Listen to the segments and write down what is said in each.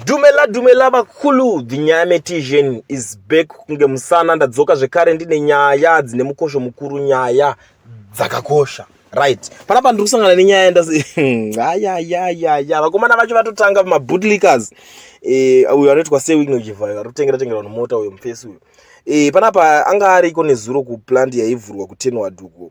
Dumela dumela vakulu the nyame tision is back kunge musana ndadzoka zvekare ndine nyaya dzine mukosho mukuru nyaya dzakakosha right panapa ndiri kusangana nenyaya ndasi ayayayaya vakomana vacho vatotanga mabootlickers eh, uyo anoitwa sewigno jivhayo ari kutengera tengera vanhu mota uyo mufesi uyo eh, panapa anga ariko nezuro kuplant yaivhurwa kutenwadhuko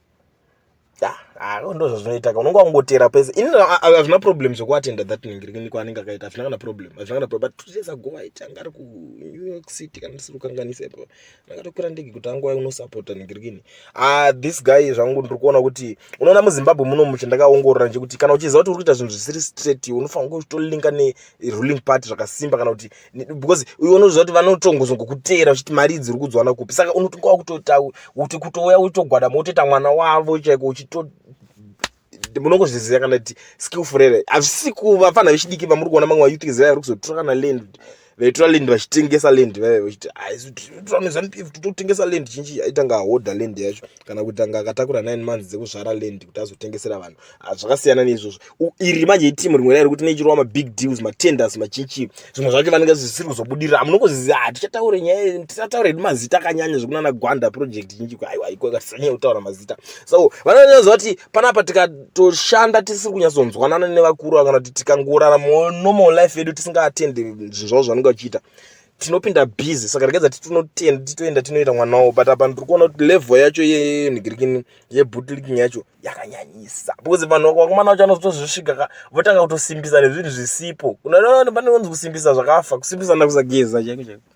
Ah, ndozvazvinoita ka unenge wakungoteera pese ini hazvina problem zvekuatenda that ningiriniko anenge akaita hazvina kana problem hazvina kana problem but two days ago aiti anga ari kunew york city kana ndisiri kukanganisa ipo ndakatokwira ndege kuti angu unosapota ningirikini ah this guy zvangu ndiri kuona kuti unoona muzimbabwe muno mucho ndakaongorora nje kuti kana uchiziva kuti uri kuita zvinhu zvisiri straight unofanira kutolinka neruling party zvakasimba kana kuti because iwe unoziva kuti vanotongozwa ngokuteera uchiti mari idzi uri kudziwana kupi saka unotonga wakutota kuti kutouya uchitogwada motoita mwana wavo chaiko uchito munongozviziva kana kuti skillful here hazvisi kuva fana vechidiki vamuri kuona mamwe vayouth ziva vari kuzotora kana land vaitora land vachitengesa land vaive vachiti haisitira nezanupf kuti totengesa land chinchi aitanga ahoda land yacho kana kuti anga akatakura nine months dzekuzvara land kuti azotengesera vanhu ah, zvakasiyana neizvozvo iri manje itimu rimwe rairi kuti neichirova mabig deals matenders machinchi zvimwe zvacho vanenge zvisiri kuzobudirira hamunongoziva hatichataure ah, nyaya tisataure hedu mazita akanyanya zvekunana gwanda project chinchi aiwa iko katisanyanya kutaura mazita so vanonyaziva kuti panapa tikatoshanda tisiri kunyatsonzwanana nevakuru kana kuti tikangorara normal life yedu tisingaatendi zvinhu zvavo zvanenge vachiita tinopinda busy saka regedza titoenda tinoenda tinoita mwana wavo but apa ndiri kuona kuti level yacho yenhigirikini yebutliking yacho yakanyanyisa because vanhu vakomana vacho vanozotozvisvika ka votanga kutosimbisa nezvinhu zvisipo pane kunzi kusimbisa zvakafa kusimbisa nakusageza chaiko chaiko